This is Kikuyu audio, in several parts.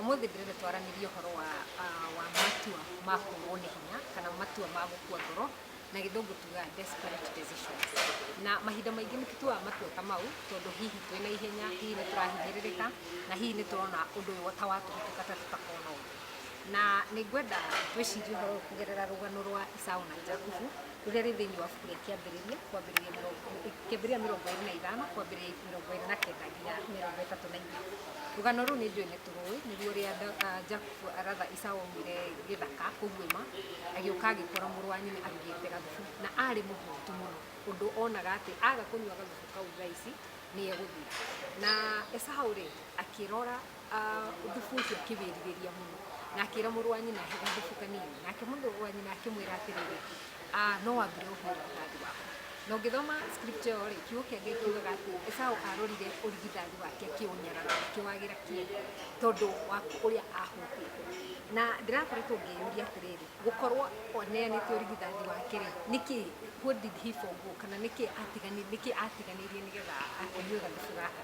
Ũmũthĩ ndĩrenda twaranĩrie ũhoro wa wa matua ma kũũrwo nĩ hinya kana matua ma gũkua ngoro na gĩthũngũ tugaga desperate decisions. Na mahinda maingĩ nĩ tũtuaga matua ta mau tondũ hihi twĩ na ihenya, hihi nĩ tũrahinyĩrĩrĩka na hihi nĩ tũrona ũndũ ũyũ ta wa tũhĩtũka ta tũtakona ũndũ. Na nĩ ngwenda twĩcirie ũhoro ũyũ kũgerera rũgano rwa Esau na Jakubu. rũrĩa rĩ thĩinĩ wa buku rĩa kĩambĩrĩria kwambĩrĩria mĩrongo kĩambĩrĩria mĩrongo ĩrĩ na ithano kwambĩrĩria mĩrongo ĩrĩ na kenda nginya mĩrongo ĩtatũ na inya rũgano rũu nĩ njũĩ nĩ tũrũĩ nĩguo rĩa jakubu aratha isaũ aumire gĩthaka kũguĩma agĩũka agĩkora mũrũ wa nyina arugĩte gathubu na arĩ mũhũtu mũno ũndũ onaga atĩ aga kũnyua gathubu kau thaa ici nĩ egũthira na esaũ rĩ akĩrora thubu ũcio akĩwĩrirĩria mũno na akĩra mũrũ wa nyina he gathubu kanini nake mũndũ wa nyina akĩmwĩra atĩrĩrĩ "Ah, no wambire ũhũre ũthathi waku na ũngĩthoma script ĩyo rĩ kiugo kĩa ngai kiugaga atĩ esaũ arorire ũrigithathi wake akĩũnyara na akĩwagĩra kĩeha tondũ wa ũrĩa ahũtĩte na ndĩrakoretwo ngĩyũria atĩrĩrĩ gũkorwo oneanĩte ũrigithathi wake rĩ nĩkĩ what did he forgo kana nĩkĩ atigani- nĩkĩ atiganĩirie nĩgetha akĩnyue gathubu gaka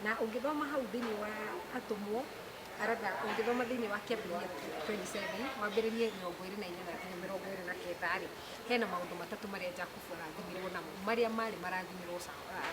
Na ũngĩthoma hau thĩinĩ wa atũmwo, rather ũngĩthoma thĩinĩ wa kĩambĩrĩria 27, wambĩrĩrie mĩrongo ĩrĩ na inyanya nginya mĩrongo ĩrĩ na kenda-rĩ, hena maũndũ matatũ marĩa Jakubu arathimirwo namo, marĩa marĩ marathimirwo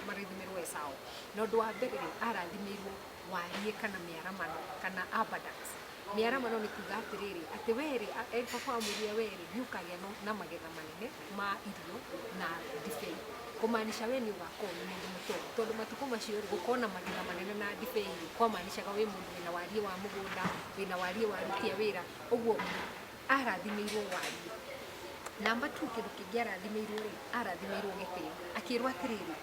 marathimirwo Esaũ. Na ũndũ wa mbere-rĩ, arathimĩirwo wariĩ kana mĩaramano kana abundance. Mĩaramano nĩ kuga atĩrĩrĩ, atĩ wee-rĩ, baba amwĩrire wee-rĩ, nĩũkagĩa na magetha manene. ma irio na ndibei, kũmaanisha we nĩ ũgakorwo wĩ mũndũ mũtongu, tondũ matukũ macio rĩ, gũkorwo na magetha manene na ndibei rĩ, kwamaanishaga wĩ mũndũ wĩna wariĩ wa mũgũnda, wĩna wariĩ wa aruti a wĩra, ũguo arathimĩirwo wariĩ. Namba two kĩndũ kĩngĩ arathimĩirwo rĩ, arathimĩirwo gĩtĩo, akĩrwo atĩrĩrĩ,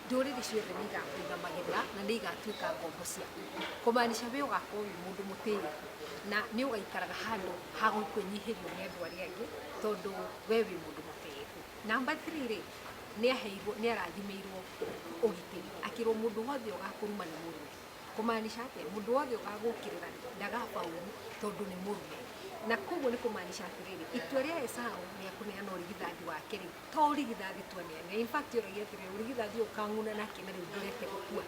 ndũrĩrĩ ciothe nĩ igakũiga magetha na nĩ igatuĩka ngombo ciaku, kũmaanisha we ũgakorwo wĩ mũndũ mũtĩĩku. na nĩ ũgaikaraga handũ ha kwĩnyihĩrio nĩ andũ arĩa angĩ tondũ we wĩ mũndũ mũtĩĩku. Number three rĩ, nĩ aheirwo, nĩ arathimĩirwo ũgitĩri, akĩrwo mũndũ wothe ũgakũruma nĩ mũrũme. Kũmaanisha atĩa? Mũndũ wothe ũgagũũkĩrĩra ndagakwa ũũru tondũ nĩ mũrũme. Na kwoguo nĩ kũmaanisha atĩrĩrĩ, itua rĩa Esau rĩa kũneana ũrigithanju wake rĩ, to urigithathi tu anene in fact oro yetere urigithathi ukanguna nake na riu ndorete gukua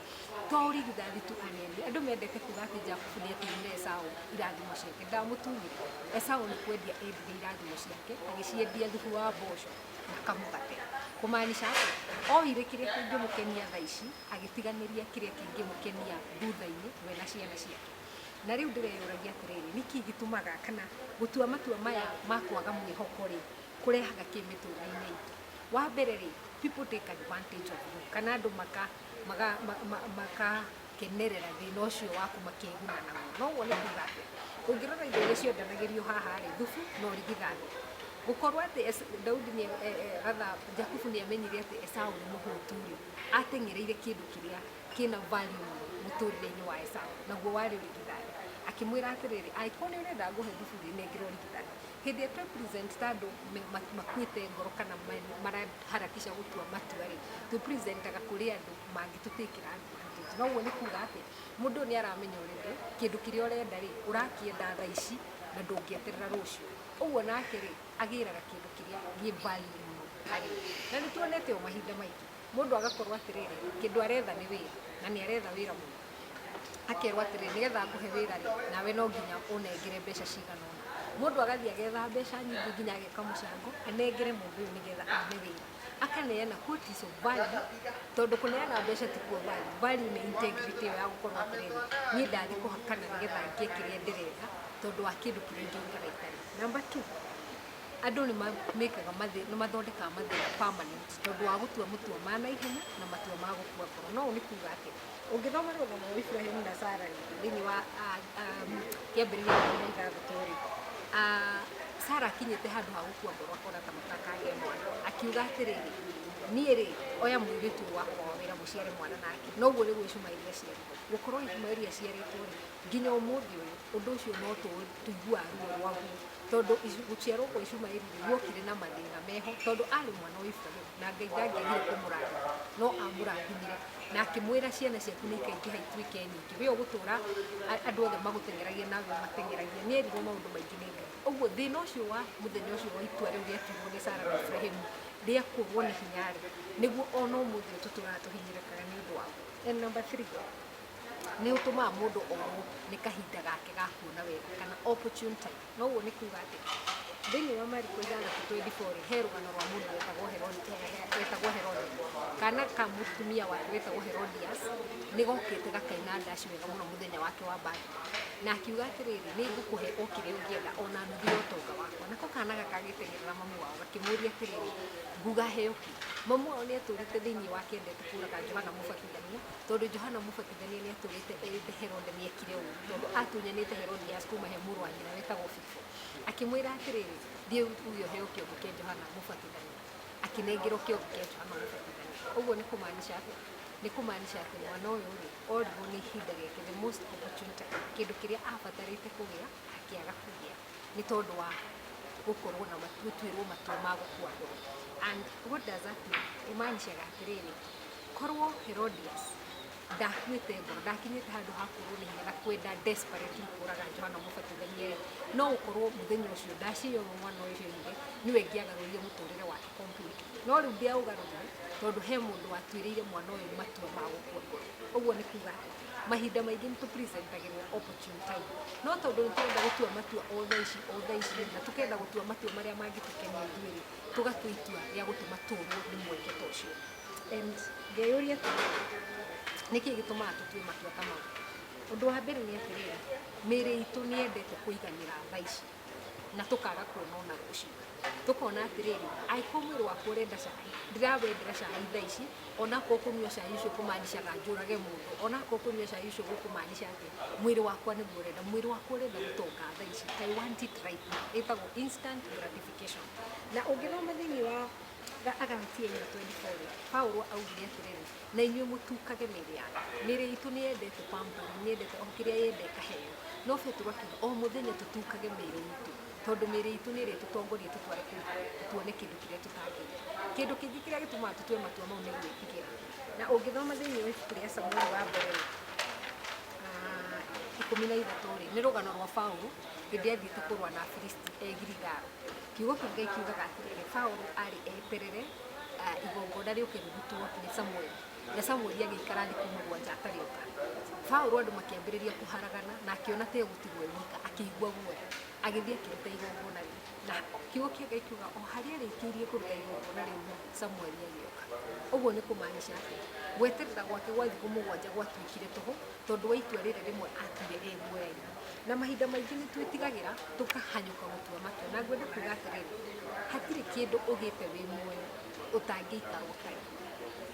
to urigithathi tu anene andu mendete kuga ati jakubu ni atunyire esau irathimo ciake ndamutunyire esau ni kwendia endire irathimo ciake agiciendia thubu wa mboco na kamugate kumaanisha ati oire kiria kingimukenia thaa ici agitiganiria kiria kingimukenia thutha-ini we na ciana ciake na riu ndireyuragia atiriri niki gitumaga kana gutua matua maya ma kwaga mwihoko ri kũrehaga kĩ mĩtũrĩre-inĩ itũ. Wa mbere rĩ, people take advantage of you kana andũ makakenerera thĩna ũcio waku makeguna naguo. Na ũguo nĩ kuga atĩa? Ũngĩrora indo iria cionanagĩrio haha rĩ, thubu na ũrigithathi. Gũkorwo atĩ Daudi, Jakubu nĩ amenyire atĩ Esau nĩ mũhũtu rĩ, ateng'ereire kĩndũ kĩrĩa kĩna value mũno mũtũrĩre-inĩ wa Esau, naguo warĩ ũrigithathi. Akĩmwĩra atĩrĩrĩ, angĩkorwo nĩ ũrenda ngũhe thubu rĩ, nengera ũrigithathi. Hĩndĩ ĩrĩa tũĩ present ta andũ makuĩte ngoro kana maraharakisha gũtua matua rĩ, twĩ present aga kũrĩ andũ mangĩtũ take advantage. Na ũguo nĩ kuga atĩ mũndũ ũyũ nĩ aramenya already kĩndũ kĩrĩa ũrenda rĩ, ũrakĩenda thaa ici na ndũngĩeterera rũciũ. Ũguo nake rĩ, agĩraga kĩndũ kĩrĩa gĩ value mũno harĩ we. Na nĩ tuonete ũũ mahinda maingĩ, mũndũ agakorwo atĩrĩrĩ, kĩndũ aretha nĩ wĩra na nĩ aretha wĩra mũno. akerwo atĩrĩ nĩgetha ngũhe wĩra rĩ nawe no nginya ũnengere mbeca cigana ũna mũndũ agathiĩ agetha mbeca nyingĩ nginya ageka mũcango anengere mũndũ ũyũ nĩgetha one wĩra akaneana quote is of value tondũ kũneana mbeca ti kuo value value nĩ integrity ĩyo ya gũkorwo atĩrĩrĩ niĩ ndathiĩ kũhakana nĩgetha ngĩe kĩrĩa ndĩrenda tondũ wa kĩndũ kĩrĩa ingĩrutaga itarĩ number two andũ nĩ ma- mekaga mathĩ nĩ mathondekaga mathĩna permanent tondũ wa gũtua mũtua ma naihenya na matua ma gũkua ngoro no ũũ nĩ kuga atĩ Ũngĩthoma rũgano rwa Iburahĩmu na Sara thĩinĩ wa kĩambĩrĩria kĩa iria ithathatũ rĩ, Sara akinyĩte handũ ha gũkua ngoro akona ta matakagĩa mwana, akiuga atĩrĩrĩ, niĩ rĩ, oya mũirĩtu wakwa wa wĩra mũciare mwana nake. Na ũguo nĩguo Ishumaeli aciarirwo. Gũkorwo Ishumaeli aciarĩtwo rĩ, nginya ũmũthĩ ũyũ, ũndũ ũcio no tũiguaga ruo rwaguo, tondũ gũciarwo kwa Ishumaeli rĩ, guokire na mathĩna meho, tondũ arĩ mwana wa Iburahĩmu. na ngai ndangĩagire kũmũrathima no amũrathimire na akĩmwĩra ciana ciaku nĩ ikaingĩha ituĩke nyingĩ we ũgũtũra a- andũ othe magũteng'eragia nawe mateng'eragia nĩ erirwo maũndũ maingĩ nĩ ngai ũguo thĩna ũcio wa mũthenya ũcio wa itua rĩu rĩatuirwo nĩ sara na ibrahimu rĩa kũrwo nĩ hinya rĩ nĩguo ona ũmũthĩ tũtũraga tũhinyĩrĩkaga nĩ ũndũ wao and number three nĩ ũtũmaga mũndũ orwo nĩ kahinda gake ga kuona wega kana opportune time Na ũguo nĩ kuuga atĩ thĩinĩ wa Mariko ithathatũ twendi korĩ he rũgano rwa mũndũ wetagwo Herode, wetagwo Herode. Kana ka mũtumia wake wetagwo Herodias nĩ gokĩte gakaina ndaci wega mũno mũthenya wake wa birthday. Na akiuga atĩrĩrĩ nĩ ngũkũhe o kĩrĩa ũngĩenda ona nuthu ya ũtonga wakwa. Nako kana gaka gagĩteng'erera mamu wao gakĩmũria atĩrĩrĩ nguga heo kĩ? Mamu wao nĩ etũrĩte thĩinĩ wake endete kũũraga Johana Mũbatithania tondũ Johana Mũbatithania... Mũrũithania nĩ atũũrĩte erĩte Herode nĩ ekire ũũru tondũ atunyanĩte Herodias kuuma he mũrũ wa nyina wetagwo Filipo, akĩmwĩra atĩrĩrĩ, Thiĩ uuge ũheo kĩongo kĩa Johana Mũbatithania. Akĩnengerwo kĩongo kĩa Johana Mũbatithania. Ũguo nĩ kũmaanisha atĩa? Nĩ kũmaanisha atĩ mwana ũyũ-rĩ, orirwo nĩ ihinda rĩake, the most opportune time, kĩndũ kĩrĩa abatarĩte kũgĩa akĩaga kũgĩa nĩ tondũ wa gũkorwo na matua, gũtuĩrwo matua ma gũkua mbere. And what does that mean? Ĩmaanishaga atĩrĩrĩ, Korwo Herodias ndakuĩte ngoro, ndakinyĩte handũ ha kũrũrĩrĩra na kwenda desperately kũũraga Johana Mũbatithania-rĩ, no gũkorwo mũthenya ũcio ndaci ĩyo mwana ũyũ oigire nĩwe ĩngĩagarũrire mũtũrĩre wake completely. No rĩu ndĩaũgarũrire tondũ he mũndũ watuĩrĩire mwana ũyũ matua ma gũkua ngoro. Ũguo nĩ kuuga atĩ mahinda maingĩ nĩ tũ present agĩrwo opportune time. No tondũ nĩ tũrenda gũtua matua o thaa ici o thaa ici-rĩ, na tũkenda gũtua matua marĩa mangĩtũkenia ithuĩ-rĩ, tũgatua itua rĩa gũtũma tũũrwo nĩ mweke ta ũcio. And ngeyũria atĩrĩrĩ, nĩkĩ gĩtũmaga tũtue matua ta mau? Ũndũ wa mbere nĩ atĩrĩrĩ, mĩĩrĩ itũ nĩ yendete kũiganĩra tha ici na tũkaga kuona ona rũciũ. Tũkona atĩrĩrĩ, angĩkorwo mwĩrĩ wakwa ũrenda cai, ndirawendera cai tha ici, onakorwo kũnyua cai ũcio kũ maanisha ga njũrage mũndũ, onakorwo kũnyua cai ũcio gũkũ maanisha atĩa, mwĩrĩ wakwa nĩguo ũrenda. Mwĩrĩ wakwa ũrenda gũtonga tha ici. I want it right now. Ĩtagwo instant gratification. Na ũngĩthoma thĩinĩ wa... Ga- Agalatia 4:24 Paulo augire atĩrĩrĩ na inyuĩ mũtukage mĩĩrĩ yanyu mĩĩrĩ itũ nĩ yendete pamper nĩ yendete o kĩrĩa yenda ĩkaheo no petero akiuga o mũthenya tũtukage mĩĩrĩ itũ tondũ mĩĩrĩ itũ nĩ ĩrĩ tũtongoria tũtware kũndũ kũrĩa tuone kĩndũ kĩrĩa tũtangĩenda kĩndũ kĩngĩ kĩrĩa gĩtũmaga tũtue matua mau nĩ gwĩtigĩra na ũngĩthoma thĩinĩ wa ibuku rĩa samueli wa mbere rĩ, Ah, ikũmi na ithatũ rĩ nĩ rũgano rwa paulo hĩndĩ athiĩte kũrũa na afilisti e girigaru Kiugo kĩa Ngai kiugaga atĩrĩrĩ, Paulo aarĩ eterere igongona rĩũke rĩrutwo nĩ Samueli, na Samueli agĩikara thikũ mũgwanja atarĩ oka. Paulo andũ makĩambĩrĩria kũharagana na akĩona ta egũtigwo e wika, akĩigua guoya, agĩthiĩ akĩruta igongona rĩu. Na kiugo kĩa Ngai kiuga o harĩa arĩkĩirie kũruta igongona rĩu rĩ, Samueli agĩũka. Ũguo nĩ kũmaanisha atĩ gweterera gwake gwa thikũ mũgwanja gwatuĩkire tũhũ tondũ wa itua rĩrĩ rĩmwe atuire e guoya-inĩ. na mahinda maingĩ nĩ twĩtigagĩra tũkahanyũka gũtua matua. Na ngwenda kuga atĩrĩrĩ, hatirĩ kĩndũ ũgĩte wĩ muoyo ũtangĩikara ũtarĩ.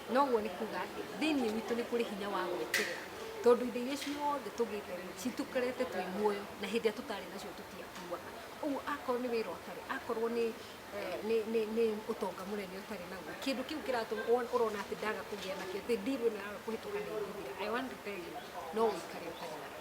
Na ũguo nĩ kuga atĩ thĩinĩ witũ nĩ kũrĩ hinya wa gwĩkĩrĩra tondũ indo iria ciothe tũgĩte rĩ citũkorete twĩ muoyo na hĩndĩ ĩrĩa tũtarĩ nacio tũtiatuaga. Ũguo akorwo nĩ wĩra ũtarĩ, akorwo nĩ eh, nĩ- nĩ- nĩ ũtonga mũnene ũtarĩ naguo, kĩndũ kĩu kĩratũma won- ũrona atĩ ndaga kũgĩa nakĩo, atĩ deal ĩno yaga kũhĩtũka nĩ ĩgũthira. I want to tell you, no ũikare ũtarĩ nakĩo.